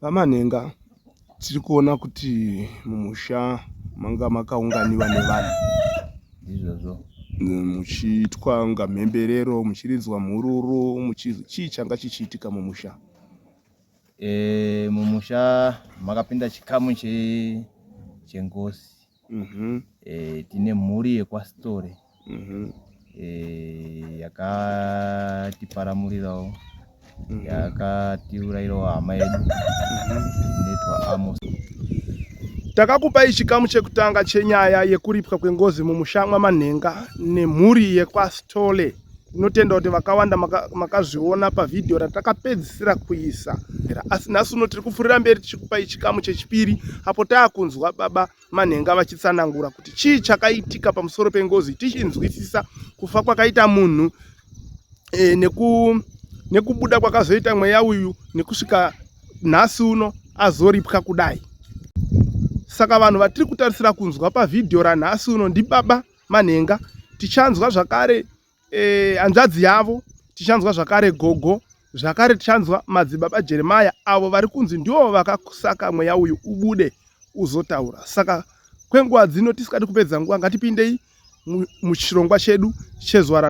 VaManhenga, Tiri kuona kuti mumusha manga makaunganiwa nevanhu izvozvo muchiitwa kunga mhemberero muchiridzwa mhururu chii changa chichiitika mumusha e, mumusha makapinda chikamu chengozi mm-hmm. e, tine mhuri yekwasitore mm-hmm. e, yakatiparamurirawo mm-hmm. yakatiurayirawo hama yedu mm-hmm. inoitwa amos takakupai chikamu chekutanga chenyaya yekuripwa kwengozi mumusha mwamanhenga nemhuri yekwasitole tinotenda kuti vakawanda makazviona maka pavhidhiyo ratakapedzisira kuisa asi nhasi uno tiri kupfuurira mberi tichikupai chikamu chechipiri apo taakunzwa baba manhenga vachitsanangura kuti chii chakaitika pamusoro pengozi tichinzwisisa kufa kwakaita munhu e, neku, nekubuda kwakazoita mweya uyu nekusvika nhasi uno azoripwa kudai saka vanhu vatiri kutarisira kunzwa pavhidhiyo ranhasi uno ndibaba manhenga tichanzwa zvakare eh, hanzvadzi yavo tichanzwa zvakare gogo zvakare tichanzwa madzibaba jeremaya avo vari kunzi ndivo vakasaka mweya uyu ubude uzotaura saka kwenguva dzino tisikadi kupedza nguva ngatipindei muchirongwa chedu chezuva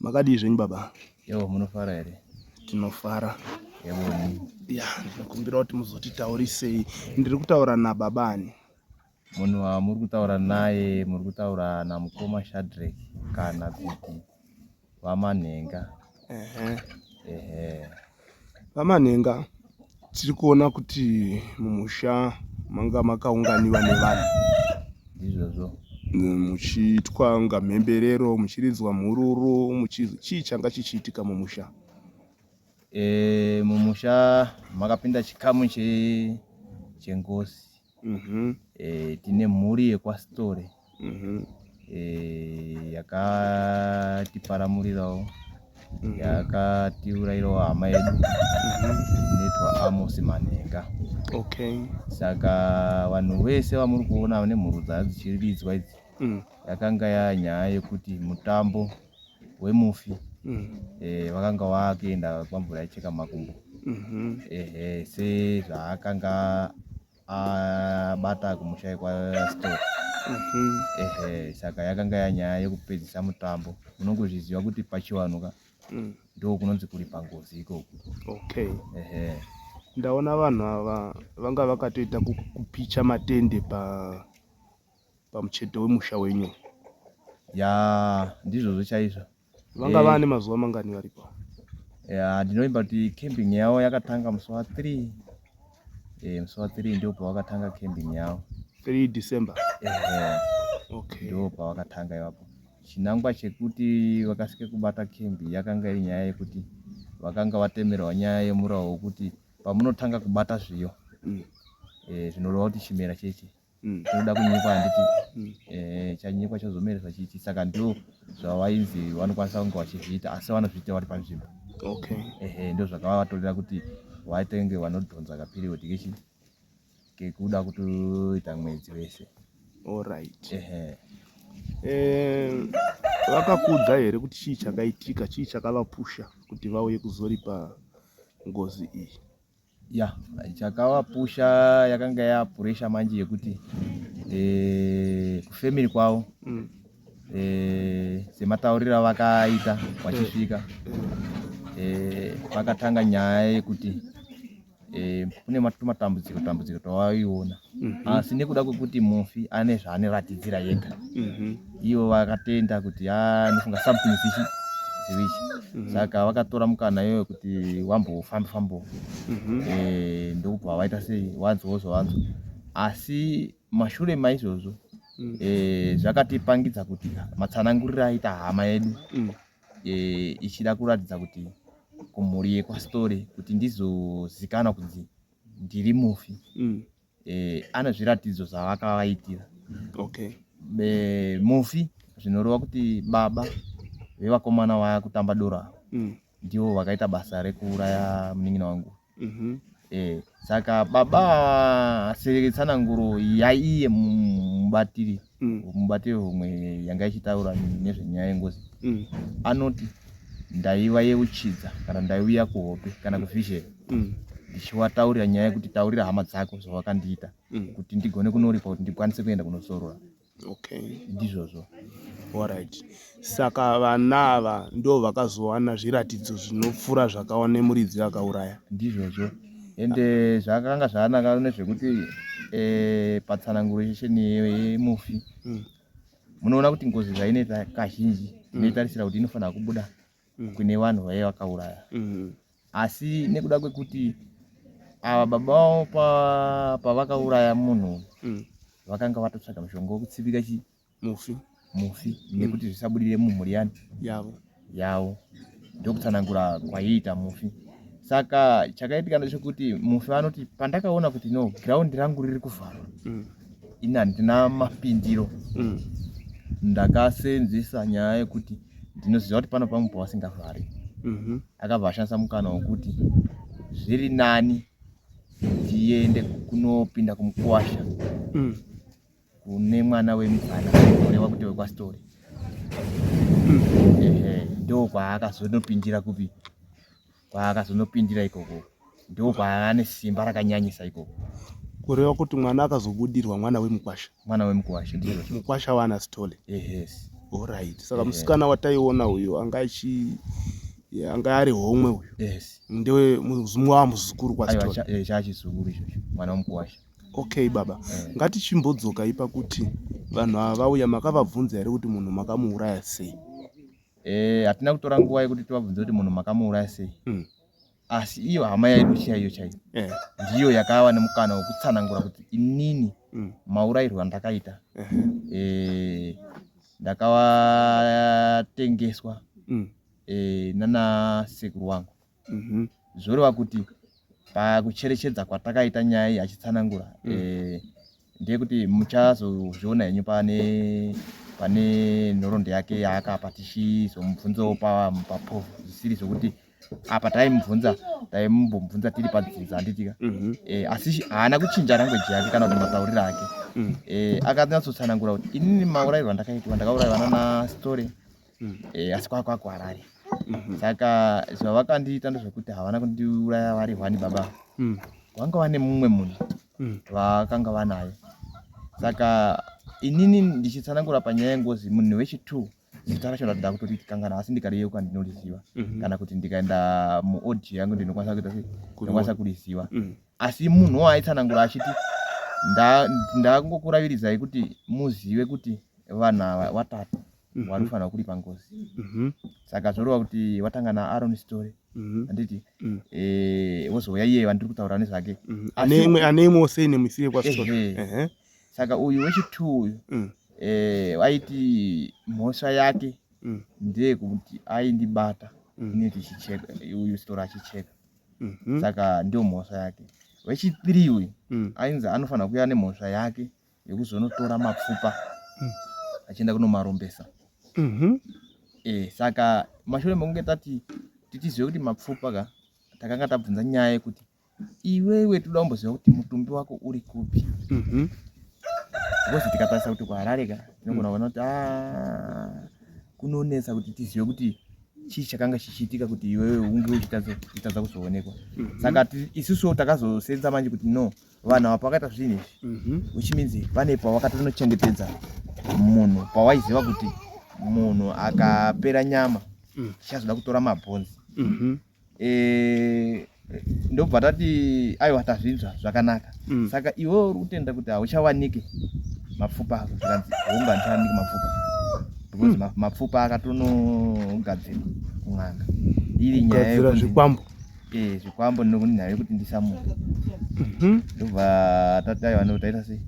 Makadii zvenyu baba? Yo, munofara here? Tinofara. Yevoni. Ya, ndinokumbira kuti muzotitaurisei. Ndiri kutaura nababa ani? Munhu wamuri kutaura naye muri kutaura namukoma Shadrack kana kuti vamanhenga. Ehe. Ehe. VaManhenga, Tiri kuona kuti mumusha manga makaunganiwa nevanhu izvozvo muchiitwa kunga mhemberero muchiridzwa mhururu muchizi chii changa chichiitika mumusha e, mumusha makapinda chikamu chengozi mm-hmm. e, tine mhuri yekwasitore mm-hmm. e, eh, yakatiparamurirawo mm-hmm. yakatiurayirawo hama yedu mm-hmm. inoitwa amosi manhenga okay. saka vanhu vese vamuri kuona nemhuru dzaa dzichiridzwa idzi mm. yakanga yanyaya yekuti mutambo wemufi mm. eh, vakanga vakuenda kwamvura yaicheka makumbo mm-hmm. ehe sezvaakanga abata kumusha kwastor mm-hmm. ehe saka yakanga yanyaya yekupedzisa mutambo unongozviziva kuti pachivanhu ka mm. ndo kunonzi kuri pangozi ikoko okay ehe ndaona vanhu ava vanga vakatoita kupicha matende pa pamucheto wemusha wenyu yaa ndizvozvo chaizvo vanga eh. vane mazuva mangani varipo ya ndinovimba kuti camping yavo yakatanga musi wa three eh, musi wa three ndio pavakatanga camping yavo three december eh, okay. ndio pavakatanga ivapo chinangwa chekuti vakasike kubata campi yakanga iri nyaya yekuti vakanga vatemerwa nyaya yemurawo wekuti pamunotanga kubata zviyo mm. eh, zvinoreva kuti chimera chechi mm. tinoda kunyekwa handiti mm. eh, chanyekwa chozomeresa chichi saka ndo zvavainzi vanokwanisa kunge vachizviita asi vanozviita vari panzvimbo okay. ehe ndo zvakavatorera kuti vaitenge vanodhonza kaperiod kechi kekuda kutoita mwedzi wese allright ehe eh, vakakudza here kuti chii chakaitika chii chakavapusha kuti vauye kuzoripa ngozi iyi ya chakavapusha yakanga yapuresha manje yekuti eh, kufamily kwavo mm. eh, sematauriro avakaita vachisvika eh, vakatanga nyaya yekuti kune matambudziko tambudziko tawaiona Mhm. asi nekuda kwekuti mufi ane zvaaneratidzira yega Mhm. ivo vakatenda kuti "Ah, ndofunga something is ichi zivichi Mhm. saka vakatora mukana iyoyo kuti wambofamba fambo Mhm. eh, ndokubva vaita sei wanzwawo zvawanzwa asi mashure maizvozvo Mm. eh, zvakatipangidza kuti matsananguriro aita hama yedu Mm. eh, ichida kuratidza kuti kumhuri yekwastory kuti ndizozikana kunzi ndiri mufi mm. eh, ane zviratidzo zvavakavaitira okay. eh, mufi zvinoreva kuti baba vevakomana vaya kutamba doro ava mm. ndivo vakaita basa rekuuraya munin'ina wangu mm -hmm. eh, saka baba seretsananguro yaiye mubatiri mm. mubati wehomwe yanga ichitaura nezvenyaya yengozi mm. anoti ndaiva yeuchidza kana ndaiuya kuhope kana mm. kuvhizheni mm. ndichiwataurira nyaya yekuti taurira hama dzako zvawakandiita mm. kuti ndigone kunoripa kuti ndikwanise kuenda kunozorora okay. ndizvozvo All right. Saka vana ava ndo vakazowana zviratidzo zvinopfura zvakaona muridzi akauraya. Ndizvozvo ende zvakanga zvanaka nezvekuti eh, patsananguro yesheni yemufi mm. munoona kuti ngozi zvainoita kazhinji mm. inoitarisira kuti inofanira kubuda mm. kune vanhu vaye vakauraya mm. asi nekuda kwekuti ava baba vavo pavakauraya munhu vakanga vatotsvaga mushonga wekutsipika chii mufi mufi mm. nekuti zvisabudire mumhuri yani yavo yavo ndokutsanangura kwaiita mufi saka chakaitika ndechekuti mufi vanoti pandakaona kuti no ground rangu riri kuvharwa mm. ini handina mapindiro mm. ndakasenzesa nyaya yekuti ndinoziva kuti pano pamwe pavasingavhari mhm. akabva ashandisa mukana wekuti zviri nani ndiende kunopinda kumukwasha mm. kune mwana wemupfana kureva kuti wekwasitori ndo kwaakazonopindira kupi kwaakazonopindira ikoko ndo kwaane simba rakanyanyisa ikoko kureva kuti mwana akazobudirwa mwana wemukwasha mwana wemukwasha ndiyo mukwasha waana sitole yes orit saka musikana wataiona uyo anga achi anga ari homwe uyo yes ndewe muzumwa wamuzukuru kwasitole chachizukuru ichocho mwana wemukwasha Okay baba, mm. ngatichimbodzoka ipa kuti vanhu ava vauya makavabvunza here kuti munhu makamuuraya sei? Eh, hatina kutora nguva yekuti tivabvunze kuti munhu makamuuraya sei. Mm. Asi iyo hama yaidu chaiyo chaiyo yeah. ndiyo yakava nemukana wekutsanangura kuti inini mm. maurayirwo andakaita yeah. eh, ndakavatengeswa mm. eh, nana sekuru wangu mhm. zvoreva kuti pakucherechedza kwatakaita nyaya iyi achitsanangura mm. eh, ndeyekuti muchazozviona henyu pane pane nhoroondo yake yaakapa tichizomubvunzawo paproof zvisiri zvokuti apa taimubvunza taimbomubvunza tiri padzinza handitika mhm. eh, asi haana kuchinja rangweji yake kana kuti matauriro ake mm. eh, akanyatsotsanangura kuti inini maurayirwo andakaitwa ndakaurayiwa nana story mm. e, asi kwava kwava kuharare mm -hmm. saka zvavakandiita ndezvekuti havana kundiuraya vari hwani baba mm. vanga vane mumwe munhu mm. vakanga vanaye saka inini ndichitsanangura panyaya yengozi munhu wechitwo zita racho ndatoda kutotikangana asi ndikariyeuka ndinoriziva mhm. kana kuti ndikaenda muaudio yangu ndinokwanisa kuita sei ndinokwanisa kuriziva mhm. asi munhu waaitsanangura achiti ndakungokuravirizai kuti muzive kuti vanhu ava vatatu mhm. wanofanira kuripa ngozi mhm. saka zvoreva kuti watanga naaron story mhm. anditi mm. eh, wozouya iye vandiri kutaura nezvake ane imwewo sei nemuisire kwastory saka uyu wechitwo uyu mm. eh, waiti mhosva yake mm. ndeyekuti aindibata ineti chicheka uyu story achicheka saka ndiyo mhosva yake wechipiri uyu ainzi anofanira kuya nemhosva yake yekuzonotora mapfupa mm. achienda kunomarombesa mm -hmm. e, saka mashure mekunge tati titizive kuti mapfupa ka takanga tabvunza nyaya yekuti iwewe toda kumboziva kuti mutumbi wako uri kupi mm -hmm. because tikatarisa kuti kuharare ka tinogona kuona kuti ah, kunonetsa kuti tizive kuti chii chakanga chichiitika kuti iwewe unge uchitadza kuzoonekwa mhm. saka isusu takazosenza manje kuti no vanhu ava pakaita zvinhu izvi mhm. which means vane pavakatonochengetedza munhu pawaiziva kuti munhu akapera nyama mm. chazoda kutora mabhonzi mhm. eh, ndobva tati aiwa tazvinzwa zvakanaka mm. saka iwe uri kutenda kuti hauchawanike mapfupa ako zvikanzi honga ndichawanike mapfupa because mm. mapfupa akatonogadzirwa kun'anga iri nyaya zvikwambo Eh, zvikwambo ndinokuti nhayo yekuti ndisamuka mhm. ndobva tati aiwa nekuti taita sei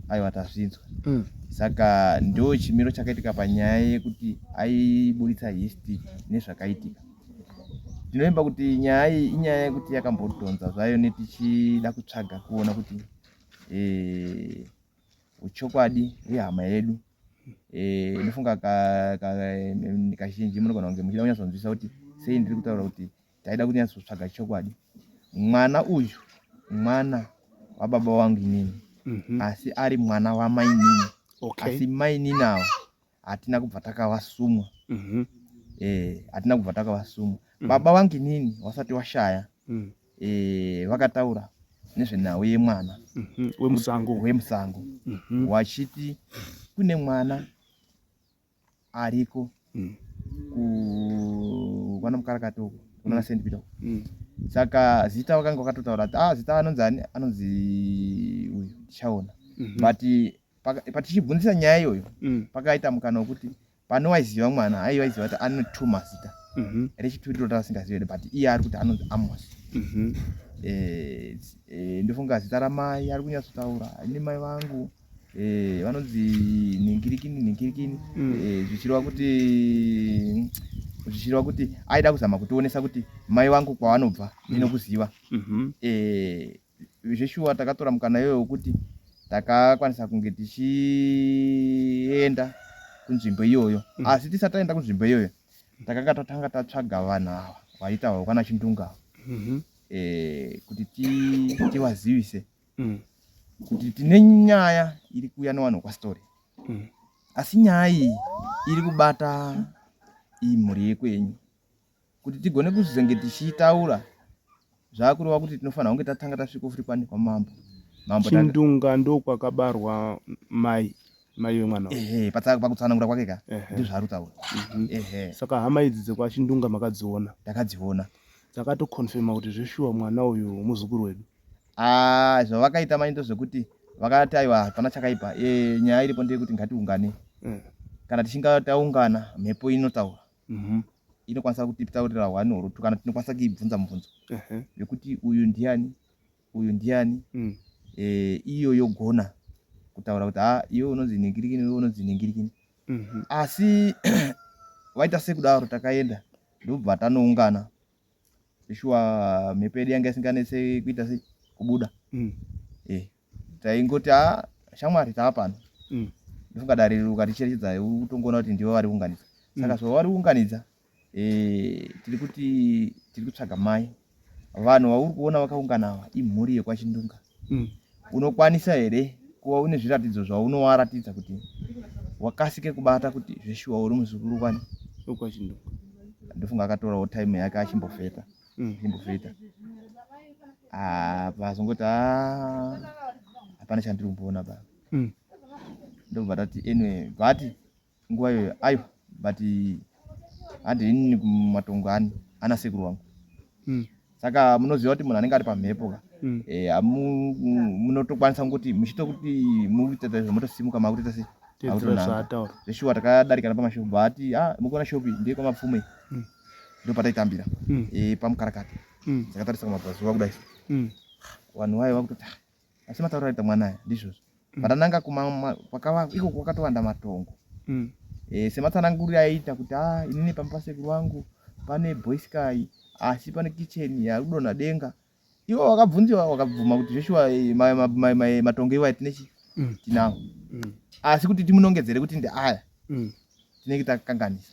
aiwa tazvinzwa mm. saka ndo chimiro chakaitika panyaya yekuti aiburitsa histi nezvakaitika ndinovimba kuti nyaya iyi inyaya yekuti yakambodhonza zvayo netichida kutsvaga kuona kuti eh, uchokwadi hwehama yedu eh, inofunga kazhinji munogona kunge muchida kunyatsonzwisa kuti sei ndiri kutaura kuti taida kunyatsotsvaga chokwadi mwana uyu mwana wababa wangu inini mm -hmm. asi ari mwana wamainini okay. asi mainini avo hatina kubva takavasumwa mm -hmm. eh, hatina kubva takavasumwa mm -hmm. baba wangu inini wasati washaya mm -hmm. eh, vakataura nezvenhau yemwana mm -hmm. wemusango wemusango mm -hmm. wachiti kune mwana ariko mm. kukwana mukarakata uko kunana mm. st peter mm. saka zita vakanga vakatotaura kuti ah zita anonzi ani anonzi uyu tichaona mhm. but patichibvunzisa nyaya iyoyo mm. pakaita mukana wekuti pane waiziva mwana aiva aiziva kuti ane two mazita mhm. rechituri rota asingazivi here but iye ari kuti anonzi amos mhm. eh, eh, ndofunga zita ramai ari kunyatsotaura ini mai vangu mm -hmm. eh, vanonzi ningirikini ningirikini mm. eh, zvichireva kuti zvichireva kuti aida kuzama kutionesa kuti mai vangu kwavanobva mm. ndinokuziva mm -hmm. eh, zveshuwa takatora mukana iyoyo wekuti takakwanisa kunge tichienda kunzvimbo iyoyo mm. asi tisati taenda kunzvimbo iyoyo takanga tatanga tatsvaga vanhu ava vaitaurwa kwana chindunga mm -hmm. eh, kuti tivazivise ti mm. kuti tine nyaya iri kuuya newanhu kwastory mm. asi nyaya iyi iri kubata iyi mhuri yekwenyu kuti tigone kuzenge tichiitaura zvakureva kuti tinofanira kunge tatanga tasvika futi kwani kwamambo mambo chindunga ndo kwakabarwa mai mai wemwana ehe pakutsanangura kwake ka ndizvaari kutaura mhm. ehe saka hama idzi dzekwachindunga makadziona takadziona dzakatoconfirma kuti zveshuwa mwana uyu muzukuru wedu Ah, zvavakaita manje ndozvekuti vakati aiwa hapana chakaipa e, nyaya iripo ndeyekuti ngatiungane mm. kana tichinga taungana mhepo inotaura mm -hmm. inokwanisa kutitaurira hwani hurutu kana tinokwanisa kuibvunza mubvunzo uh -huh. vekuti uyu ndiani uyu ndiani mm. e, iyo yogona kutaura kuti ha ah, iwe unonzi ningirikini iwe unonzi ningirikini mm -hmm. asi vaita sekudaro takaenda ndobva tanoungana shuwa mhepo yedu yanga isinganetse kuita sei kubuda mm. eh, taingoti a ah, shamwari taa pano mm. ndofunga dare riri ukaticherechedza utongoona kuti ndivo vari kuunganidza mm. saka so vari kuunganidza eh, tiri kuti tiri kutsvaga mai vanhu vauri kuona vakaungana ava imhuri yekwachindunga mm. unokwanisa here kuva une zviratidzo zvaunowaratidza kuti wakasike kubata kuti zveshuwa uri muzukuru kwani ndofunga akatorawo time yake achimbofeta mm. achimbofeta pazongoti ah, hapana chandiri kumboona baba mm. ndobva tati anyway but nguva iyoyo aiwa but handi inini kumatongo ani ana sekuru wangu mm. saka munoziva kuti munhu anenge ari pamhepo ka mm. eh, munotokwanisa e, kuti muchito kuti mukuita zvamotosimuka makutoita sei zveshuwa takadarikana pamashopu bati ah, mukuona shopi ndiye kwamapfume mm. ndo pataitambira mm. e, pamukarakati mm. takatarisa kumabvazuva kudai mm. vanhu vaye vakutoti ah, asi mataura aita mwana aya ndizvozvo mm. patananga kuma pakava iko kwakatowanda matongo mm. e, sematsananguriro aiita kuti a ah, inini pamba pasekuru wangu pane boysky asi pane kitchen yakudonha denga iwo wakabvunziwa wakabvuma kuti zveshuwa eh, matongo iwayo tine chi mm. tinawo mm. asi kuti timunongedzere kuti ndeaya mm. tinenge takanganisa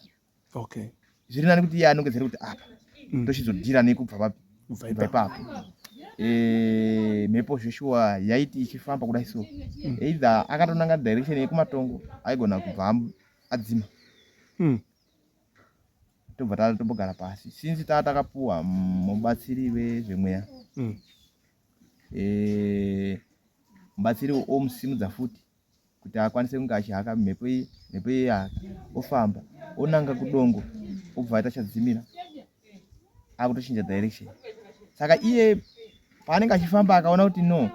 okay zviri nani kuti iye anongedzere kuti apa mm. ndochizodhira nekubva papi ipapo eh, mhepo zveshuwa yaiti ichifamba kudai so mm. either akatonanga direction yekumatongo aigona kubva adzima mm. tobva taa tombogara pasi since taa takapuwa mubatsiri vezvemweya eh, mubatsiri omusimudza futi kuti akwanise kunge achihaka mhepo iyi mhepo iyi yaka ofamba onanga kudongo obva aita chadzimira akutochinja direction saka iye paanenge achifamba akaona kuti no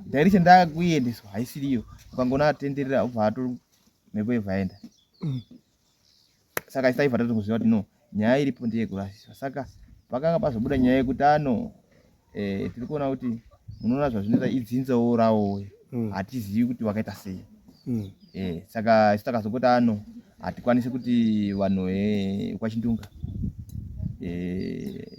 direction ndakuiendeswa haisiriyo ukangoona atenderera obva ato mhepo yobva yaenda mm. saka isaiva tatokuziva kuti no nyaya iripo ndeyekurasiswa saka pakanga pazobuda nyaya yekuti ano eh, tiri kuona kuti munoona zvazvinoita idzinzawo rawowe hmm. hatizivi kuti wakaita sei hmm. eh, saka isu takazongoti ano hatikwanisi kuti vanhu eh, kwachindunga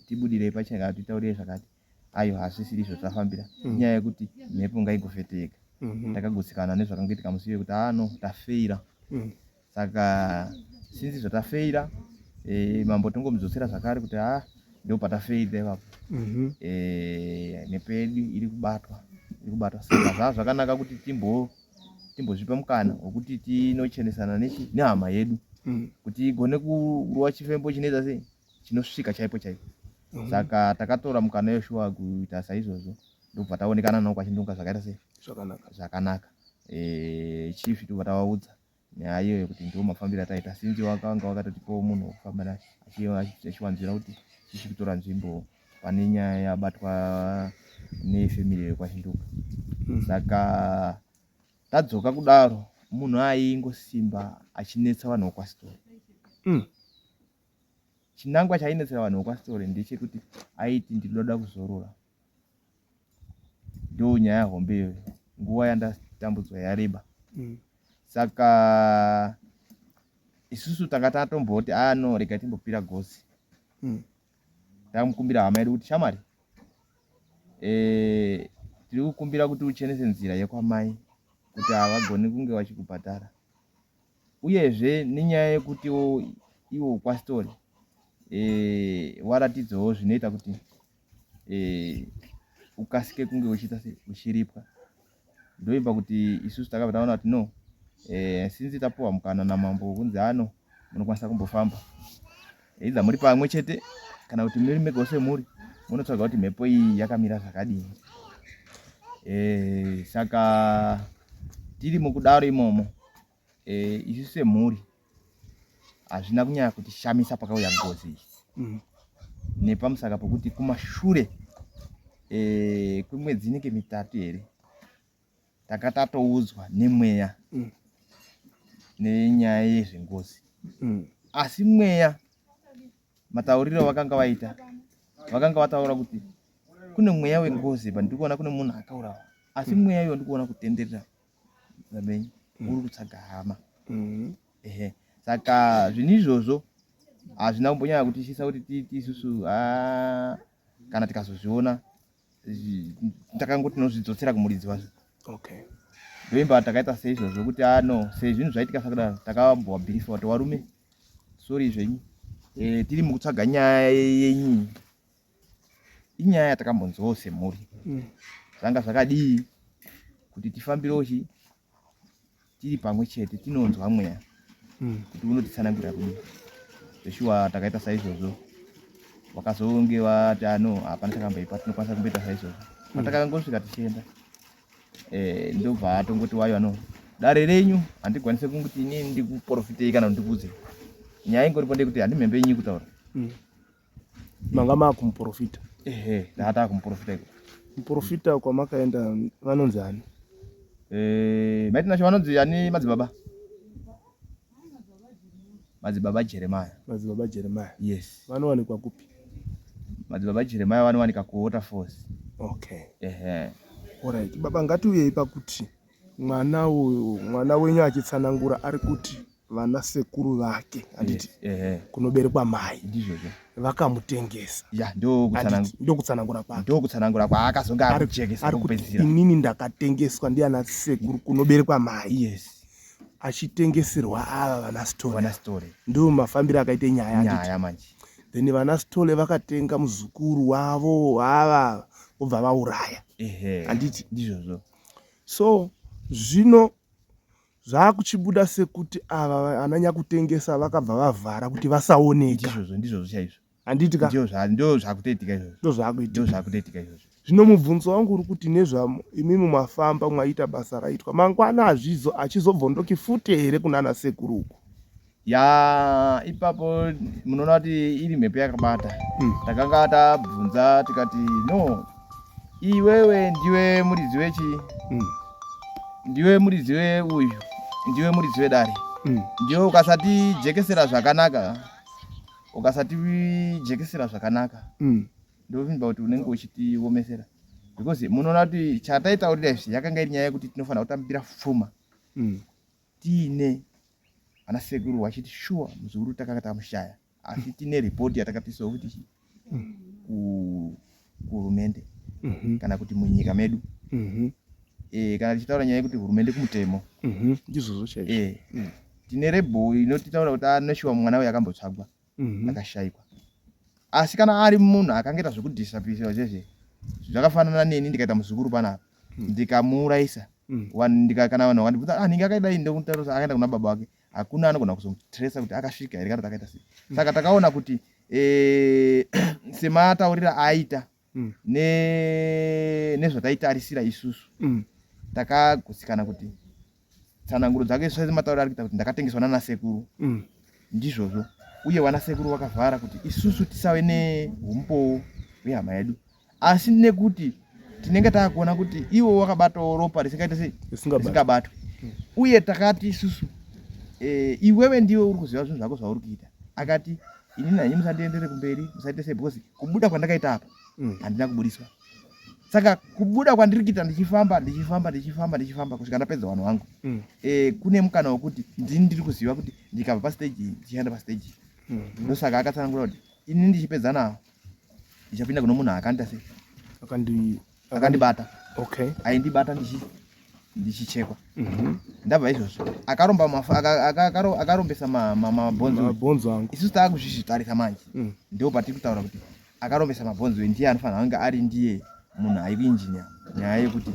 tibudirei pachaka titaurire zvakati ayo hazvisiri izvo zvafambira mm. inyaya yekuti mhepo ngaigofete yega mm-hmm. takagutsikana nezvakangoitika musi iye kuti ano ah, tafeira mm. saka sinzi zvatafeira eh, mambo tingomudzosera zvakare kuti ha ah, ndo patafeira ipapo mm-hmm. eh, nepedu iri kubatwa iri kubatwa saka zvaa zvakanaka kuti timbo timbozvipa mukana wekuti tinochenesana nechi nehama yedu mm. kuti igone kurowa chifembo chinoita sei chinosvika chaipo chaipo mhm. saka takatora mukana yeshuwa kuita saizvozvo ndobva taonekana nao kwachindunga zvakaita sei zvakanaka eh, chief tobva tavaudza nyaya iyoyo kuti ndiwo mafambiro ataita sinzi wakanga wakatotipawo munhu wekufamba naye achiwanzira kuti chichi kutora nzvimbo pane nyaya yabatwa nefamily yekwachinduka hmm. saka tadzoka kudaro munhu aingosimba achinetsa vanhu wekwasitori hmm. chinangwa chainetsera vanhu vekwastory ndechekuti aiti ndinoda kuzorora ndo nyaya hombe iyoyo nguva yandatambudzwa yareba mm. saka isusu tanga tatomboti aa ah, no rega timbopira gosi mm. tamukumbira hama yedu kuti shamwari eh, tiri kukumbira kuti uchenese nzira yekwamai kuti havagoni kunge vachikubhadhara Uyezve nenyaya yekutiwo iwo kwasitori eh, waratidzawo zvinoita kuti eh, ukasike kunge uchiita se uchiripwa ndoimba kuti isusu takabva taona kuti no eh, sinzi tapuwa mukana namambo kunzi ano munokwanisa kumbofamba either muri pamwe chete kana kuti muri mega semhuri munotsvaga kuti mhepo iyi yakamira zvakadini e, saka tiri mukudaro imomo e, isu semhuri hazvina kunyanya kuti shamisa pakauya ngozi iyi mm. nepamusaka pokuti kumashure e, kwemwedzi inenge mitatu here tanga tatoudzwa nemweya mm. nenyaya yezvengozi mm. asi mweya matauriro avakanga vaita vakanga vataura kuti kune mweya wengozi but ndikuona kune munhu akaurawa asi mm. mweya iyo ndikuona kutenderera zamenyi mm. uri kutsvaga hama mm. ehe saka zvinhu izvozvo hazvina kumbonyanya kutishisa kuti tiiti isusu ah, kana tikazozviona takangoti tinozvidzotsera kumuridzi wacho okay ndoimba takaita seizvo zvokuti ano ah, sezvinhu zvaitika sakudaro takambova bhirifa kuti warume sori zvenyu e, tiri mukutsvaga nyaya yenyu inyaya yatakambonzwawo semhuri mm. zvanga zvakadii kuti tifambirewo chii tiri pamwe chete tinonzwa mweya hmm. kuti unotitsanangura kudi zveshuwa takaita saizvozvo vakazonge vati ano ah, hapana takamboipa tinokwanisa kumboita saizvozvo hmm. atakangosvika tichienda eh, ndobva atongoti wayo ano dare renyu handikwanise kunguti ini ndikuporofitei kana kuti ndikuudze nyaya ingoripo ndekuti handimhembe inyi kutaura hmm. manga makumuprofita ehe ndaata kumuprofita iko muprofita kwamakaenda vanonzi ani eh maiti nasho vanonzi ani madzibaba madzibaba jeremiah madzibaba jeremiah yes vanowanikwa kupi madzibaba jeremiah vanowanika kuwaterfalls okay ehe orit baba ngatiuyei pakuti mwana uyu mwana wenyu achitsanangura ari kuti vana sekuru vake handiti kunoberekwa mai vakamutengesa ndokutsanangura kwakendokutsanangura kwaakazonge akujekesa kupedzisira inini ndakatengeswa ndiana sekuru kunoberekwa mai yes achitengeserwa ava vana stole ndo mafambiro akaite nyaya nyaya manje then vana stole vakatenga muzukuru wavo ava vobva vauraya handiti ndizvozvo so zvino Zvakuchibuda sekuti ava ananyakutengesa vakabva vavhara kuti vasaoneka. Ndizvozvo ndizvozvo chaizvo. Handiti ka? Ndizvo zvakutoitika izvozvo. Ndozvakuitika. Ndozvakutoitika izvozvo. Zvino mubvunzo wangu uri kuti nezvamo imi mumafamba mwaita basa raitwa mangwana azvizo achizobvondoki fute here kunana sekuru uku. yaa ipapo munoona kuti iri mhepo yakabata hmm. takanga mm. tabvunza tikati no iwewe ndiwe muridzi wechi mm. ndiwe muridzi we uyu ndiwe muridzi wedare mm. ndiwe ukasati jekesera zvakanaka ukasati jekesera zvakanaka mm. ndovinba kuti unenge uchitiomesera because munoona kuti chataitaurira izvi yakanga iri nyaya yekuti tinofanira kutambira fuma mm. tiine ana sekuru vachiti shuwa muzukuru takanga tamushaya asi tine ripoti yatakapisawo kuti kuhurumende mhm. kana kuti munyika medu mhm. eh, kana tichitaura nyaya yekuti hurumende kumutemo mhm. ndizvozvo chaizvo eh, mm. tine rebho inotitaura kuti anoshuwa ah, mwana uyo akambotsvagwa mhm. akashaikwa asi kana ari munhu akangaita zvekudisapisiwa zvese zvakafanana neni ndikaita muzukuru panapa mhm. ndikamuurayisa kana vanhu vakandibvunza ah, anenge akaidai ndokutaurisa akaenda kuna baba wake hakuna anogona kuzomutresa kuti akasvika here kana takaita sei saka takaona kuti eh, semataurira aita mm. ne nezvataitarisira isusu mm. takagutsikana kuti tsananguro dzake saizi matauro ari kuita kuti ndakatengeswa nana sekuru mm. ndizvozvo uye vana sekuru vakavhara kuti isusu tisave neumbowo hwehama yedu asi nekuti tinenge taakuona kuti iwo wakabatawo ropa risingaite sei risingabatwe mm. uye takati isusu e, iwewe ndiwe uri kuziva zvinhu zvako zvauri kuita akati ini nani musandiendere kumberi musaite sei because kubuda kwandakaita apa mm. handina kubudiswa saka kubuda kwandiri kuita ndichifamba ndichifamba ndichifamba ndichifamba kusvika ndapedza vanhu vangu mm. e, kune mukana wekuti ndini ndiri kuziva kuti ndikabva pasteji ndichienda pasteji mm. ndosaka akatsanangura kuti ini ndichipedza nawo ndichapinda kuno munhu akanita sei akandibata okay aindibata ndichi ndichichekwa mhm. ndabva izvozvo akaromba akarombesa mabhonzo angu isu taakuzvizvitarisa manje mm. ndo patiri kutaura kuti akarombesa mabhonzo e ndiye anofanira kunge ari ndiye munhu aive injinia nyaya yekuti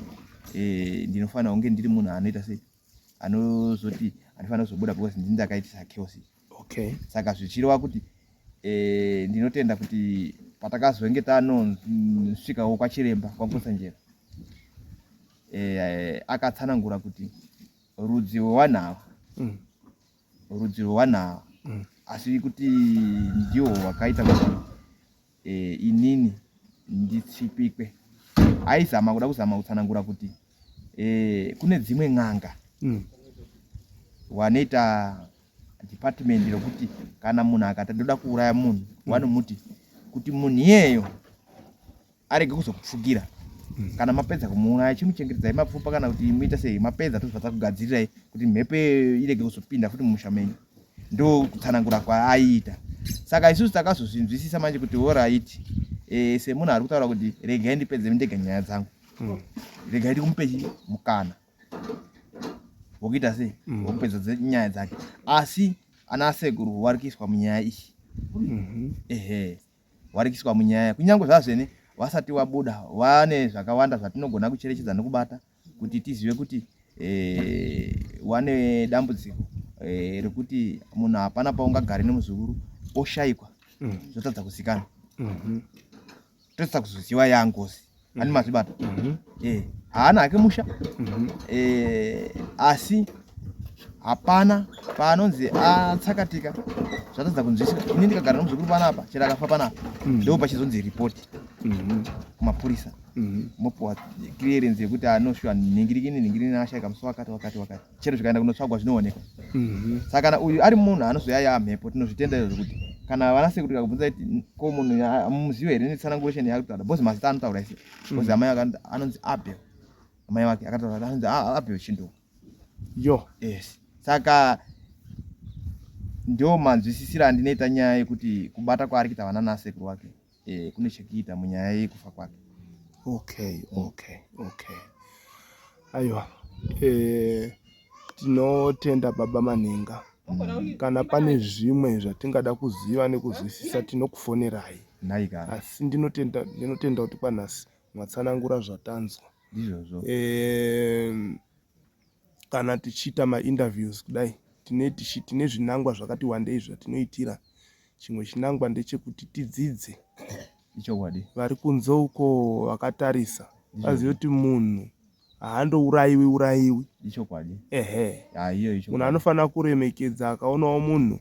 eh, ndinofanira kunge ndiri munhu anoita sei anozoti andifanira kuzobuda because ndini ndakaitisa chaos okay saka zvichireva kuti eh, ndinotenda kuti patakazonge tanosvikawo kwachiremba kwakusanjera eh, akatsanangura kuti rudzi rwevanhu ava mm. rudzi rwevanhu ava mm. asi kuti ndiwo wakaita kuti e, inini nditsvipikwe aizama kuda kuzama kutsanangura kuti e, kune dzimwe n'anga mm. wanoita department rokuti kana munhu akati ndoda kuuraya munhu mm. wanomuti kuti munhu iyeyo arege kuzokupfukira mm. kana mapedza kumuuraya chimuchengetedzai mapfupa kana kuti muita sei mapedza tozvata kugadzirirai kuti mhepo irege kuzopinda futi mumusha menyu ndokutsanangura kwaaiita saka isusu takazozvinzwisisa manje kuti horaiti e, eh, semunhu ari kutaura kuti regai ndipedze ndega nyaya dzangu mm. regai ndikumupechi mukana wokuita sei mm. wokupedza mm. nyaya dzake asi ana sekuru wari kuiswa munyaya iyi mm -hmm. ehe wari kuiswa munyaya kunyange zvazvene wasati wabuda wane zvakawanda zvatinogona kucherechedza nokubata kuti tizive kuti eh, wane dambudziko eh, rekuti munhu hapana paungagare nemuzukuru oshaikwa mm. zvotadza kusikana mm-hmm. totadza kuzoziva yangozi mm. ani mazvibata mm-hmm. eh, haana hake musha mm-hmm. asi hapana paanonzi atsakatika zvatadza kunzwisisa ini ndikagara nomuzukuru panapa chero akafa panapa ndoo pachizonzi ripoti kumapurisa mm -hmm. Mhm. mopiwa clearance yekuti anoshuwa nhingirikini nhingirikini ashaika musi wakati wakati wakati chero zvikaenda kunotsvagwa zvinoonekwa mhm. saka kana uyu ari munhu anozouya yaa mhepo tinozvitenda izvo zvekuti kana vana sekutira kubvunza kuti ko munhu muzivo here netsananguresheni yakutaura bcause mazita anotaura ise bcause mhm. amai vake anonzi abel amai vake akataura anonzi ah, abel chinduka yo yes saka ndo manzwisisira andinoita nyaya yekuti kubata kwaari kuita vana nasekuru wake eh, kune chekuita munyaya yekufa kwake okay okay okay aiwa eh, tinotenda baba manhenga mm. kana pane zvimwe zvatingada kuziva nekuzwisisa tinokufonerai asi ndinotenda ndinotenda kuti panhasi mwatsanangura zvatanzwa izvozvo eh, kana tichiita mainterviews kudai tine zvinangwa zvakati wandei zvatinoitira Chimwe chinangwa ndechekuti tidzidze ichokwadi vari kunze uko vakatarisa vazive kuti munhu haandourayiwi urayiwi ichokwadi ehe aiyo icho munhu anofanira kuremekedza akaonawo munhu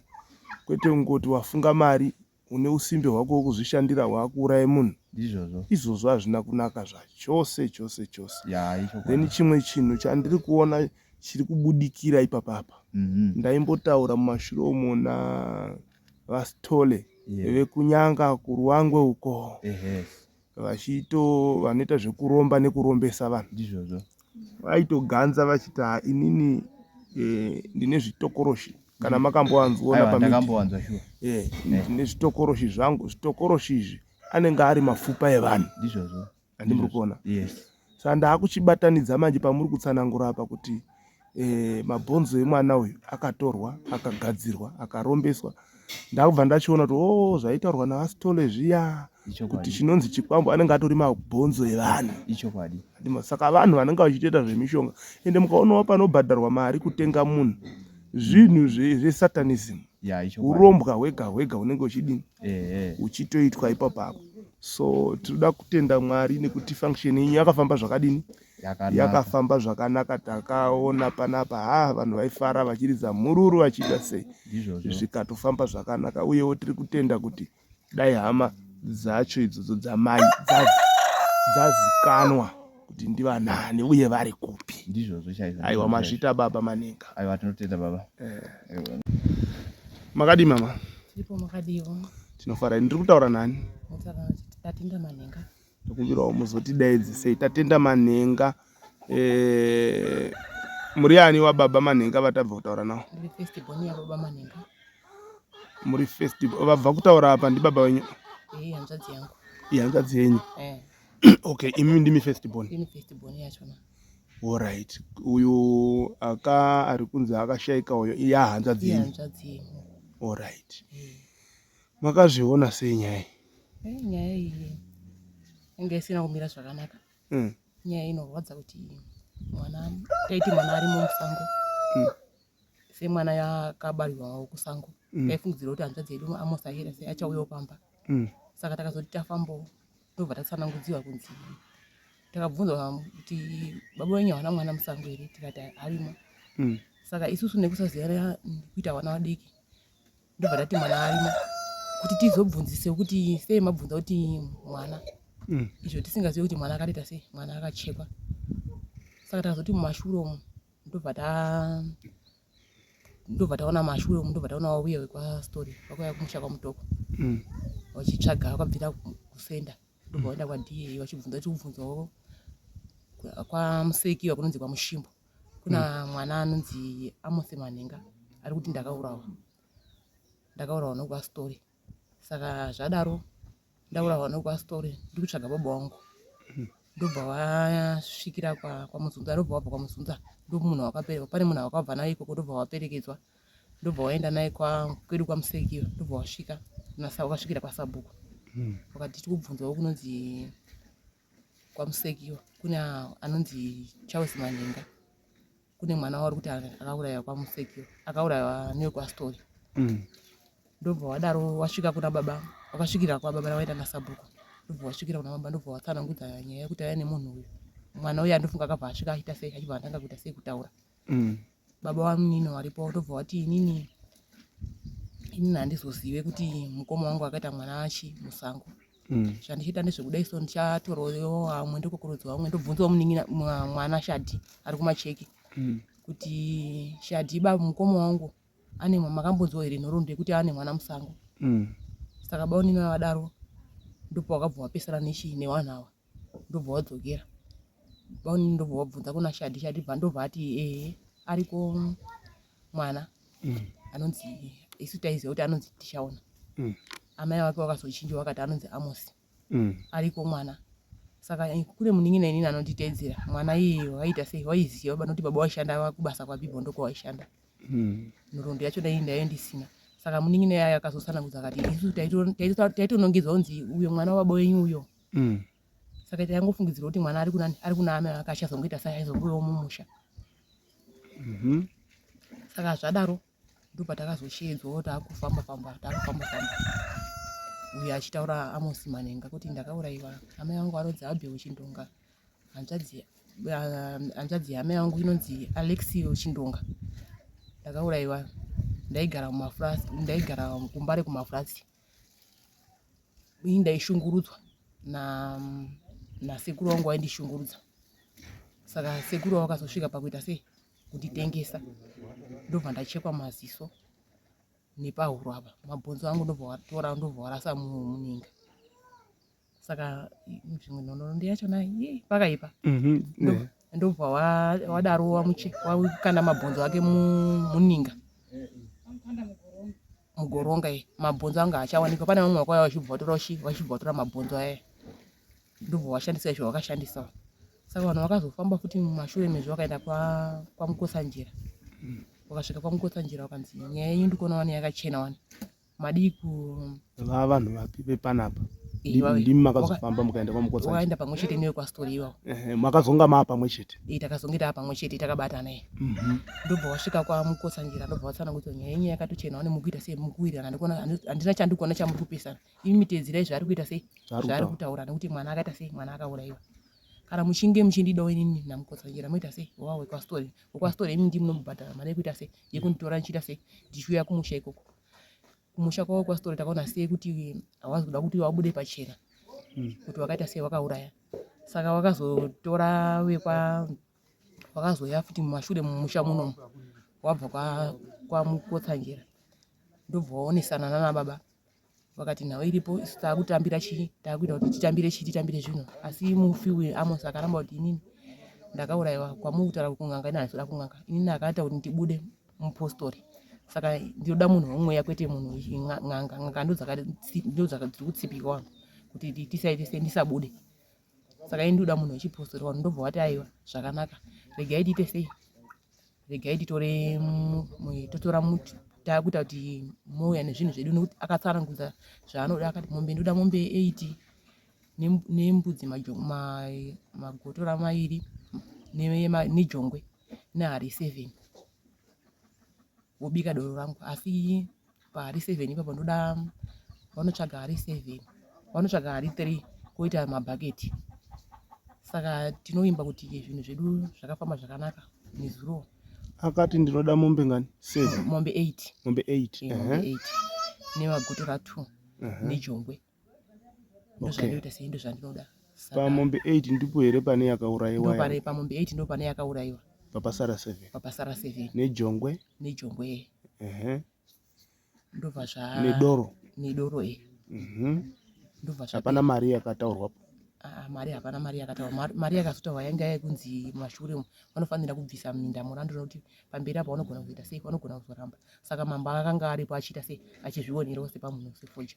kwete kungoti wafunga mari une usimbe hwako wokuzvishandira hwakuuraye munhu ndizvozvo izvozvo hazvina kunaka zvachose chose chose then chimwe chinhu chandiri kuona chiri kubudikira ipapa apa mm -hmm. ndaimbotaura mumashure umo navastole yeah. vekunyanga kuruangwe uko vachito vanoita zvekuromba nekurombesa vanhu ndizvozvo vaitoganza vachiti ha inini eh, ndine zvitokoroshi kana mm. makamboanzwona pamakakamboanzwa shuwa eh, ndine zvitokoroshi zvangu zvitokoroshi izvi anenge ari mapfupa evanhu ndizvozvo handi muri kuona saka ndaakuchibatanidza manje pamuri kutsanangura apa kuti eh, mabhonzo emwana uyu akatorwa akagadzirwa akarombeswa ndakubva ndachiona kuti o oh, zvaitaurwa naasitole zviya kuti chinonzi chikwambo anenge atori mabhonzo evanhu ichokwadi saka vanhu vanenge vachitoita zvemishonga ende mukaonawo panobhadharwa mari kutenga munhu zvinhu zvesatanism urombwa hwega hwega hunenge uchidini ehe uchitoitwa ipapo apo so tinoda kutenda mwari nekuti function yenyu yakafamba zvakadini yakanaka yakafamba zvakanaka takaona panapa ha vanhu vaifara vachiridza mhururu vachiita sei ndizvozvo zvikatofamba zvakanaka uyewo tiri kutenda kuti dai hama dzacho idzodzo dzamai dzazi- dzazikanwa kuti ndivanani uye vari kupi ndizvozvo chaizvo aiwa mazvita baba maninga aiwa tinotenda baba eh. makadii mama tiripo makadiiwo tinofara ndiri kutaura nani tatenda manhenga tokumbirawo muzotidaidzi sei tatenda manhenga eh, muri ani wababa manhenga vatabva kutaura nawo muri festival vabva kutaura apa ndibaba wenyu ihanzvadzi yenyu eh. okay imi ndimi first born ini first born yachona orit uyu aka ari kunzi akashaika uyo iya hanzvadzi yenyu orit makazviona sei nyaya iyi nyaya iyi inge isina kumira zvakanaka hmm. nyaya inorwadza kuti mwana taiti mwana ari mumusango hmm. semwana yakabarirwawo kusango mm. taifungidzira kuti hanzvadzi yedu amos ahera sei achauyawo pamba mm. saka takazoti tafambawo tobva tatsanangudziwa kunzi takabvunza kuti baba wenyu havana mwana musango here tikati arimo mm. saka isusu nekusaziyana kuita vana vadiki ndobva tati mwana arimo kuti tizobvunzise kuti sei mabvunza kuti mwana mm. izvo tisingazive kuti mwana akaita sei mwana akachekwa saka takazoti mumashure umu ndobva ta ndobva taona mashure umu ndobva taona wauya wekwastory vakauya kumusha kwamutoko mm. vachitsvaga vakabvira kusenda ndobva vaenda kwada vachibvunza chikubvunzawo kwamuseki vakunonzi kwamushimbo kuna mm. mwana anonzi amose manhenga ari kuti ndakaurawa ndakaurawa nokuvastory mm. saka zvadaro ndaura hwano kwastori ndiri kutsvaga baba wangu ndobva wasvikira kwamuzunza ndobva wabva kwamuzunza ndomunhu wakaperekwa pane munhu wakabva naye ikoko ndobva waperekedzwa ndobva waenda naye kwedu kwamuseki ndobva wasvika wakasvikira kwasabhuku hmm. wakati tikubvunzawo kunonzi kwamusekiwa kune anonzi charles manhenga kune mwana wauri kuti akauraiwa kwamusekiwa akauraiwa newekwastory mm. ndobva wadaro wasvika kuna baba wakasvikira kwababa nawaita nasabhuku ndobva wasvikira kuna baba ndobva watsanangudza nyaya yekuti aya nemunhu uyu mwana uyu andofunga akabva asvika aita sei achibva atanga kuita sei kutaura mm. baba vamunini varipo votobva vati inini inini handizozive kuti mukoma wangu akaita mwana achi musango mm. zvandichiita ndezvekudai so ndichatorowo vamwe ndokokorodza vamwe ndobvunzawo munin'ina mwana shadhi ari kumacheki mm. kuti shadhi baba mukoma wangu ane makambonzwa here nhoroondo yekuti ane mwana musango mm. saka baunini vavadaro ndipo wakabva wapesana nechi newanhu awa ndobva wadzokera vaone ndobva wabvunza kuna shadi shadi bva ndobva ati ee ariko mwana mm. anonzi isu taiziva kuti anonzi tichaona mm. amai vake vakazochinja vakati anonzi amosi mm. ariko mwana saka eh, kune munin'ina inini anonditeedzera mwana iye waiita sei waiziva vanoti baba waishanda vakubasa kwabibho ndokwavaishanda hmm. nhoroondo yacho dai ndaive ndisina saka munin'ina yayo akazosanangudza akati isu taitonongedzwa kunzi uyo mwana wababa wenyu uyo mm. saka ita yangofungidzira kuti mwana ari kunani ari kuna amai vake achazongoita sai aizongovewo mumusha mm -hmm. saka zvadaro ndopatakazosheedzwa wo taakufamba famba taakufamba famba uyo achitaura amosi manenga kuti ndakaurayiwa amai vangu vanonzi abheo chindonga hanzvadzi hanzvadzi yamai vangu inonzi alexio chindonga ndakaurayiwa ndaigara kumafurasi ndaigara kumba rekumafurasi ini ndaishungurudzwa na nasekuru wangu waindishungurudza saka sekuru wakazosvika pakuita sei kunditengesa ndobva ndachekwa maziso nepahuro apa mabhonzo angu ndobva watora ndobva warasa muninga saka zvimwe nhonono ndiyachona pakaipa mhm, ndobva wadaro wakanda mabhonzo ake muninga mugoronga ye mabhonzo anga achawanikwa pane vamwe vakauya vachibva vatora vachibva vatora mabhonzo aya ndobva washandisa izvo wakashandisa saka vanhu vakazofamba futi mumashure mezvo vakaenda kwamukosanjira mm. wakasvika kwamukosanjira wakanzi nyaya yenyu ndikuona wani yakachena wani madii ku vava vanhu vapi vepanapa ndimi makazofamba mukaenda kwamukotsa waenda pamwe chete newe kwastori iwawo makazonga maa pamwe chete e takazonge taa pamwe chete takabatana e mhm. ndobva wasvika kwamukotsa njira ndobva watsana kuti nyaya yenyu yakatochena one mukuita sei mukuwirirana ndikuona handina chandikuona chamuri kupesana imi miteedzirai zvaari kuita sei zvaari kutaura nekuti mwana akaita sei mwana akauraiwa kana muchinge muchindidawo inini namukotsa njira moita sei wawe kwastori kwasitora imi ndimi nomubhadhara mari yekuita sei yekunditora ndichiita sei ndichiuya kumusha ikoko kumusha kwavo kwasitora takaona sei kuti hawazi kuda kuti wabude pachena hmm. kuti wakaita sei wakauraya saka wakazotora vekwa wakazoya futi mumashure mumusha munomu wabva kwamukotsanjera ndobva waonesana nana baba vakati nhau iripo isu taakutambira chii taakuita kuti titambire chii titambire zvino asi mufi uyu amos akaramba kuti inini ndakaurayiwa kwamuri kutaura kuti kun'anga ini handizoda kun'anga inini akaita kuti ndibude mupostori saka ndinoda munhu wemweya kwete munhu n'anga n'anga ndodzakadziri kutsipika wangu kuti tisaite sei ndisabude saka ini ndoda munhu wechipostori wanu ndobva wati aiwa zvakanaka regai tiite sei regai titore totora muti takuita kuti mouya nezvinhu zvedu nekuti akatsanangudza zvaanoda akati mombe ndoda mombe eight nembudzi magotora mairi nejongwe nehari seven wobika doro rangu asi pahari seven ipapo ndoda vanotsvaga hari seven vanotsvaga hari three koita mabhaketi saka tinovimba kuti zvinhu zvedu zvakafamba zvakanaka nezuro akati ndinoda mombe ngani seven mombe eight mombe eight eh, mombe eight nemagutura two nejongwe ndozvandoita sei ndozvandinoda pamombe 8 ndipo here pane yakaurayiwa pamombe 8 ndipo pane yakaurayiwa papasara 7 papasara 7 nejongwe nejongwe ehe ndobva zva nedoro nedoro e mhm ndobva zva hapana mari yakataurwa po ah, mari hapana mari yakataurwa mari yakazotaurwa yanga yekunzi mashure vanofanira kubvisa minda murandu nokuti pamberi apo vanogona kuzoita sei vanogona kuzoramba saka mambo akanga aripo achiita sei achizvionerawo sepamunhu sefoja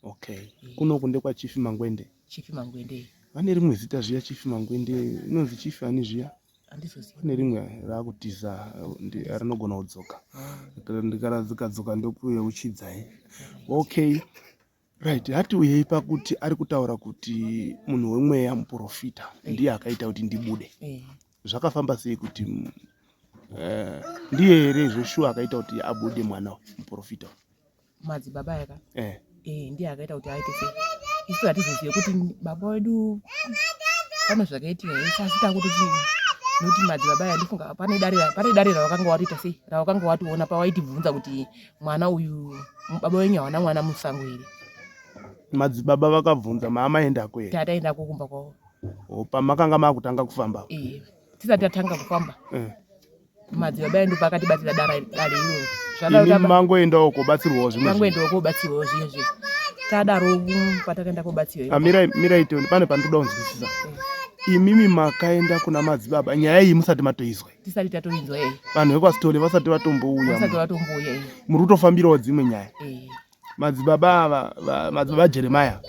Okay. Eh. Kuno kunde kwa Chief Mangwende. Chief Mangwende. Vane rimwe zita zviya Chief Mangwende inonzi Chief ani zviya? Andizoziva. Vane rimwe rakutiza rinogona kudzoka. Ah. Ndikaradzoka dzoka ndokuye uchidzai. Okay. Right, hati uyei pakuti ari kutaura kuti munhu wemweya muprofita eh. ndiye akaita kuti ndibude. Eh. Zvakafamba sei kuti eh, ndiye here zveshuwa akaita kuti abude mwana muprofita? madzibaba aya ka eh. eh, ndiye akaita kuti aite sei isu hatizozive kuti baba wedu pane zvakaitika ese asi takuti chii nokuti madzibaba aya ndifunga pane dare pane dare rawakanga watoita sei rawakanga watoona pawaitibvunza kuti mwana uyu baba wenyu hawana mwana musango here madzibaba vakabvunza maama endako here tata endako kumba kwavo pamakanga makutanga kufamba eh, tisati tatanga kufamba eh. kumadzibaba edu pakatibatira dara dare iroro zvadaro mangoendawo kobatsirwawo zvimwe mangoendawo kobatsirwawo zviye zviye tadaro patakaenda kobatsirwa ah, mirai mirai tione pane pandoda kunzwisisa eh. imimi makaenda kuna madzibaba nyaya iyi musati matoizwa tisati tatoinzwa vanhu vekwasitole vasati vatombouya vasati vatombouya muri kutofambirawo dzimwe nyaya eh. madzibaba ava madzibaba jeremaya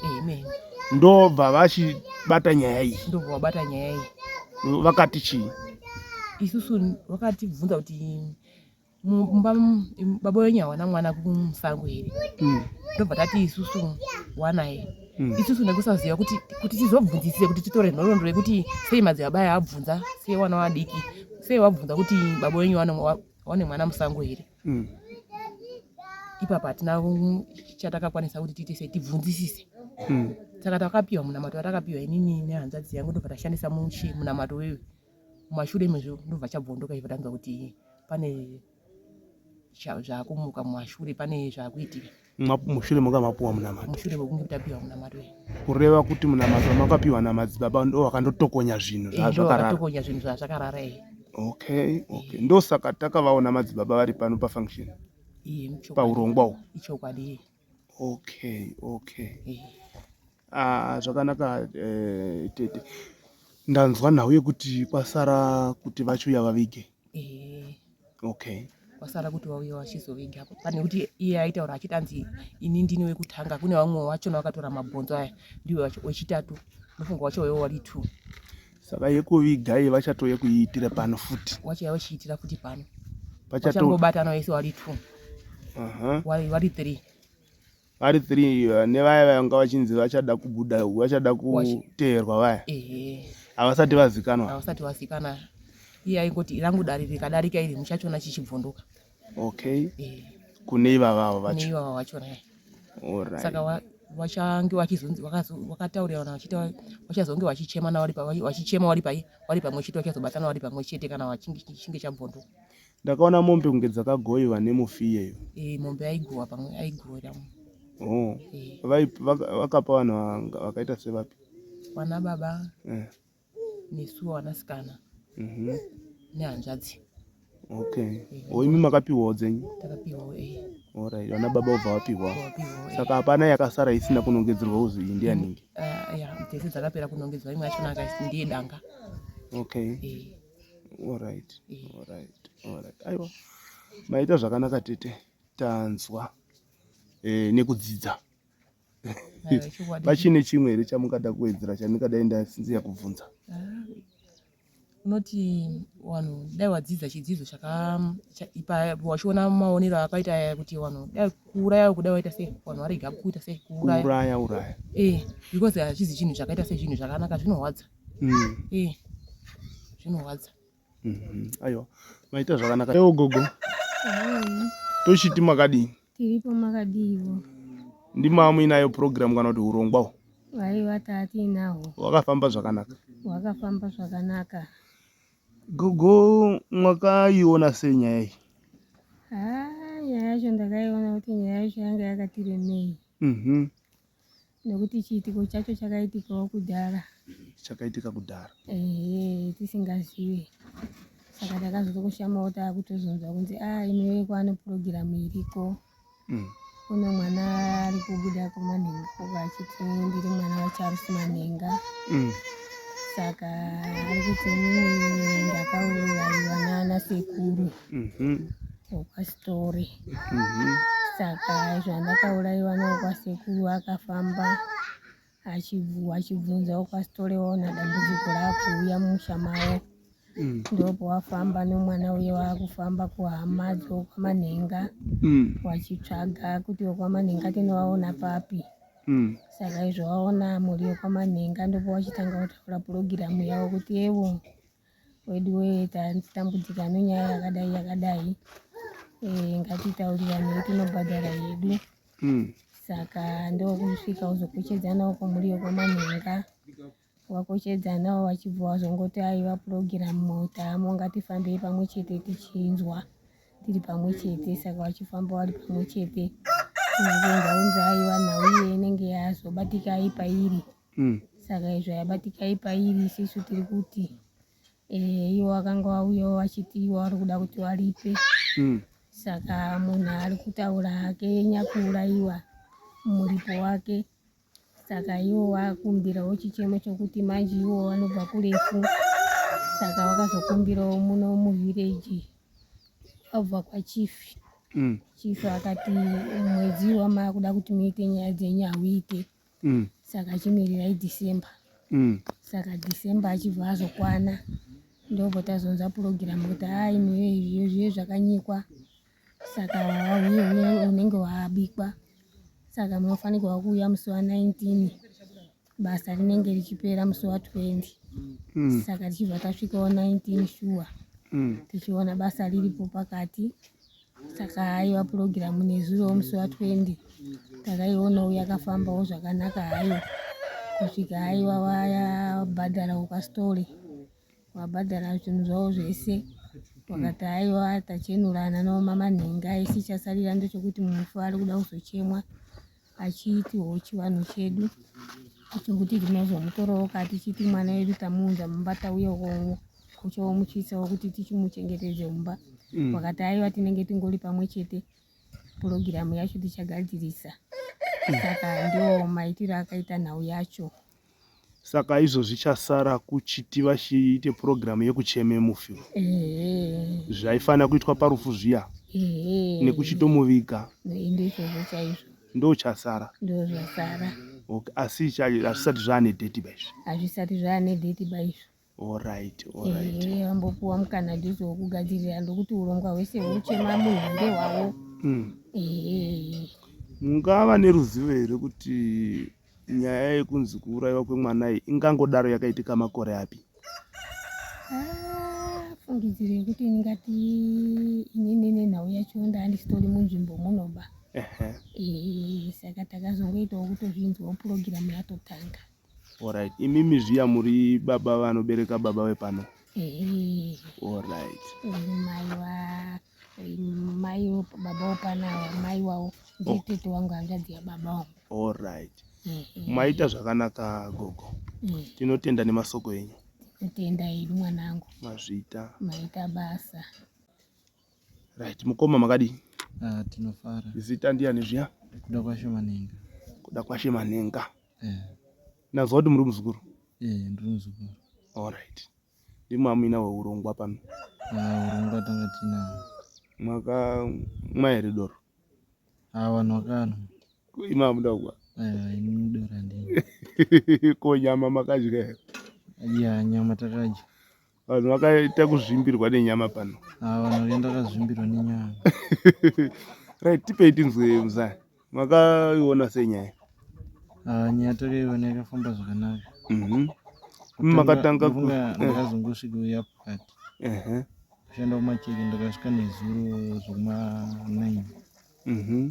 ndobva vachibata nyaya iyi ndobva vabata nyaya iyi vakati chii isusu vakatibvunza kuti mumba baba wenyu hawana mwana kumusango here hmm. ndobva tati isusu wanaye hmm. isusu nekusaziva kuti kuti tizobvunzisise kuti titore nhoroondo yekuti sei madzibaba aya abvunza sei wana wadiki sei wabvunza kuti baba wenyu wane mwana musango here mm. ipapa hatina chatakakwanisa kuti tiite sei tibvunzisise mm. saka takapiwa munamato watakapiwa inini nehanzvadzi yangu ndobva tashandisa muchi munamato wewe mumashure mezvo ndobva chabvondoka ivo tanzwa kuti pane zvakumuka mumashure pane zvakuitika mushure manga mapuwa munamato mushure mekunge tapiwa munamato kureva kuti munamato makapiwa namadzibaba ndo vakandotokonya zvinhu zvazvakararatokonya zvinhu zvazvakarara e okay okay ndosaka takavaona madzibaba vari pano pafunction paurongwa uhu ichokwadi okay okay ah, zvakanaka eh, tete ndanzwa nhau yekuti kwasara kuti vachuya vavige okay kwasara kuti vauye vachizoviga apo pane kuti iye aitaura achiti anzi ini ndini wekutanga kune vamwe vachona vakatora mabhonzo aya ndiwe wechitatu ndofunga wacho waivo wari two saka yekuviga iye vachatouye kuiitira pano futi wachaya vachiitira futi pano vachangobatana vese wari two vari three vari three eh, nevaya vanga vachinzi vachada kubuda vachada kuteerwa vaya havasati vazikanwa havasati vazikanwa iye aingoti rangu dare rikadarika iri muchachiona chichibvunduka okay eh. kune ivavavo vacho ivava vachona eh. saka vachange vachizonzi vakataurirana vachita vachazonge vachichema na wari vachichema wari pai wari pamwe chete vachazobatana wari pamwe chete kana vachinge chinge chabvunduka Ndakaona mombe kunge dzakagoiwa nemufi iyeyo. Eh, mombe aigova pamwe aigowira mu. Oh. Eh. Vai vaka- vakapa vanhu vanga- vakaita sevapi? Wana baba Eh. nesu wanasikana Mhm. nehanzvadzi Okay. Oh, imi makapiwawo dzenyu. takapiwawo eh Alright. Vana baba obva vapiwa. wapiwawo eh. Saka hapana yakasara isina kunongedzerwa uzi iyi ndiyaningi. Ah, ya dzese dzakapera kunongedzwa imwe yachona akaisi ndiye danga Okay. eh Alright, alright, alright. Aiwa, maita zvakanaka tete, tanzwa eh, nekudzidza pachine chimwe here chamungada kuwedzera chandingadai ndasinziya kubvunza ah, unoti vanhu dai wadzidza chidzidzo chakaipawachiona maonero akaita aya kuti vanhu dai kuuraya kuda waita sei vanhu varega kuita sei kuuraya uraya eh, because hachizi chinhu chakaita sezvinhu zvakanaka zvinorwadza mm. eh, zvinorwadza mm -hmm. aiwa maita zvakanaka ewo gogo mm. tochiti makadii tiripo makadiiwo ndimamu inayo program kana kuti urongwa hwo aiwa taatiinahwo wakafamba zvakanaka wakafamba zvakanaka gogo mwakaiona sei nyaya iyi ah, nyaya yacho ndakaiona kuti nyaya yacho yanga yakatiremei mhm. nekuti chiitiko chacho chakaitikawo kudhara chakaitika kudhara ehe tisingazive saka takazotokushamawo taakutozonzwa kunzi a ah, inowe kwaane purogiramu iriko mm. kune mwana ari kubuda kumanhenga kuka achiti ndiri mwana wacharusi manhenga mm. saka ari kuti ndakauraiwa naana sekuru mm-hmm. wekwaSitori mhm. saka izvo andakauraiwa newekwasekuru akafamba achibvunza wekwaSitori waona dambudziko raakuuya mumusha mavo mm. ndopo wafamba nomwana uye waakufamba kuhama dzokwamanhenga mm. wachitsvaga kuti wekwamanhenga tinovaona papi mm. saka izvo waona mhuri yekwamanhenga ndopo wachitanga kutaura purogiramu yavo kuti evo weduwee tatambudzika nenyaya yakadai yakadai eh, ngatitauriranei tinobhadhara yedu hmm. saka ndokusvika uzokochedzana uko muri yekwamanhenga wakochedzanawo wachibva wazongoti aiva purogiramu motamo ngatifambei pamwe chete tichinzwa tiri pamwe chete saka wachifamba wari pamwe chete nzonzaunza aiva nhau iye inenge yazobatika aipa iri mm. saka izvo yabatikai pairi isisu tiri kuti eh, iwo vakanga vauyawo vachiti iwo vari kuda kuti varipe mm. saka munhu ari kutaura hake nyakuurayiwa muripo wake saka iwo vakumbirawo chichemo chokuti manje iwo vanobva kurefu saka vakazokumbirawo muno muvhireji vabva kwachifi mm. chifi akati mwedzi wamaakuda kuti muite nyaya dzenyu hauite mm. saka chimirirai december mm. saka december achibva azokwana ndobva tazonza purogiramu kuti haa imiwe izviyo zviye zvakanyikwa saka wauye unenge waabikwa saka munofanirwa kuuya musi wa 19 basa rinenge richipera musi wa 20 mm. saka tichibva tasvika wa 19 shuwa mm. tichiona basa riripo pakati saka haiwa purogiramu nezuro musi wa 20 takaionawo yakafambawo zvakanaka hayo kusvika haiwa wayabhadhara ukasitore wabhadhara zvinhu zvavo zvese wakati haiwa tachenurana nomama nhenga isi chasarira ndechokuti mufu ari kuda kuzochemwa achiitiwo chivanhu chedu chokuti tinozomutorawo kati tichiti mwana wedu tamuunza mumba tauya ukowo kuchomuchisawo kuti tichimuchengetedze mumba mm. wakati aiwa tinenge tingori pamwe chete purogiramu yacho tichagadzirisa saka ndiwo maitiro akaita nhau yacho saka izvo zvichasara kuchiti vachiite purogiramu yekucheme mufi zvaifanira kuitwa parufu zviya nekuchitomuviga ndochasara okay. asi hazvisati zvaane dheti baizvo hazvisati zvaane dheti baizvo Alright, alright. Eh, vambopuwa mukana ndizo wokugadzirira ndokuti urongwa hwese hweuchema munhu hande hwavo Mm. Eh, mungava neruzivo here kuti nyaya yekunzi kuurayiwa kwemwana iyi ingangodaro yakaitika makore api ah, fungidziro yekuti ndingati inini nenhau yacho ndaandisitori munzvimbo munoba Ehe. Eh, saka takazongoitawo kutozvinzwawo purogiramu yatotanga Alright. Imimi zviya muri baba vanobereka baba vepano. Eh. Alright. Mai wa mai baba wapana mai wawo ndiye oh. tete wangu hanzvadzi yababa wangu. Alright. Eh, eh. Maita zvakanaka gogo. Eh. Tinotenda nemasoko enyu. Tinotenda hedu mwanangu. Mazvita. Maita basa. Right, mukoma makadii? Ah, tinofara. Zita ndiani zviya? Kuda kwashe manenga. Kuda kwashe manenga. eh. nanzwa kuti muri muzukuru eh, ndiri muzukuru allright ndimi amina weurongwa pano ah, urongwa tanga tina mwaka mwaere doro avanhu ah, vakanwa imi amuda kukwa eh, ini mudora ndini ko nyama makadya here ya nyama takadya vanhu vakaita kuzvimbirwa nenyama pano ah, vanhu vakaenda kazvimbirwa nenyama right tipei tinzwe muzaya makaiona sei nyaya ah, nyaya takaiona yakafamba zvakanaka mhm. makatanga ndakazongosvika uya pakati kushanda kumacheke ndakasvika nezuro zvekuma 9 mhm.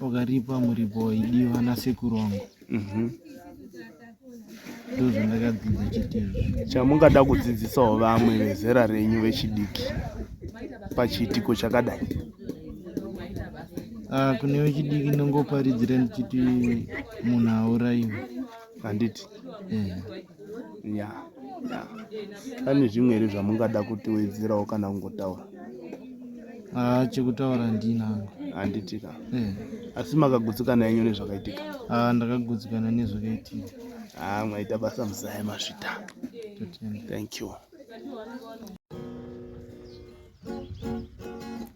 Wakaripa muripo waidiwa nasekuru wangu. Mhm. Ndozvandakadzidza chete izvo. Chamungada kudzidzisawo vamwe vezera renyu vechidiki pachiitiko chakadai. Ah, kune vechidiki ndongoparidzira ndichiti munhu hauraiwe. Handiti? Eh. ya ya pane zvimwe here zvamungada kutiwedzerawo kana kungotaura haa chekutaura handina hangu handiti ka eh. asi makagutsikana yenyu nezvakaitika haa ndakagutsikana nezvakaitika haa ah, mwaita basa muzaya masvita thank you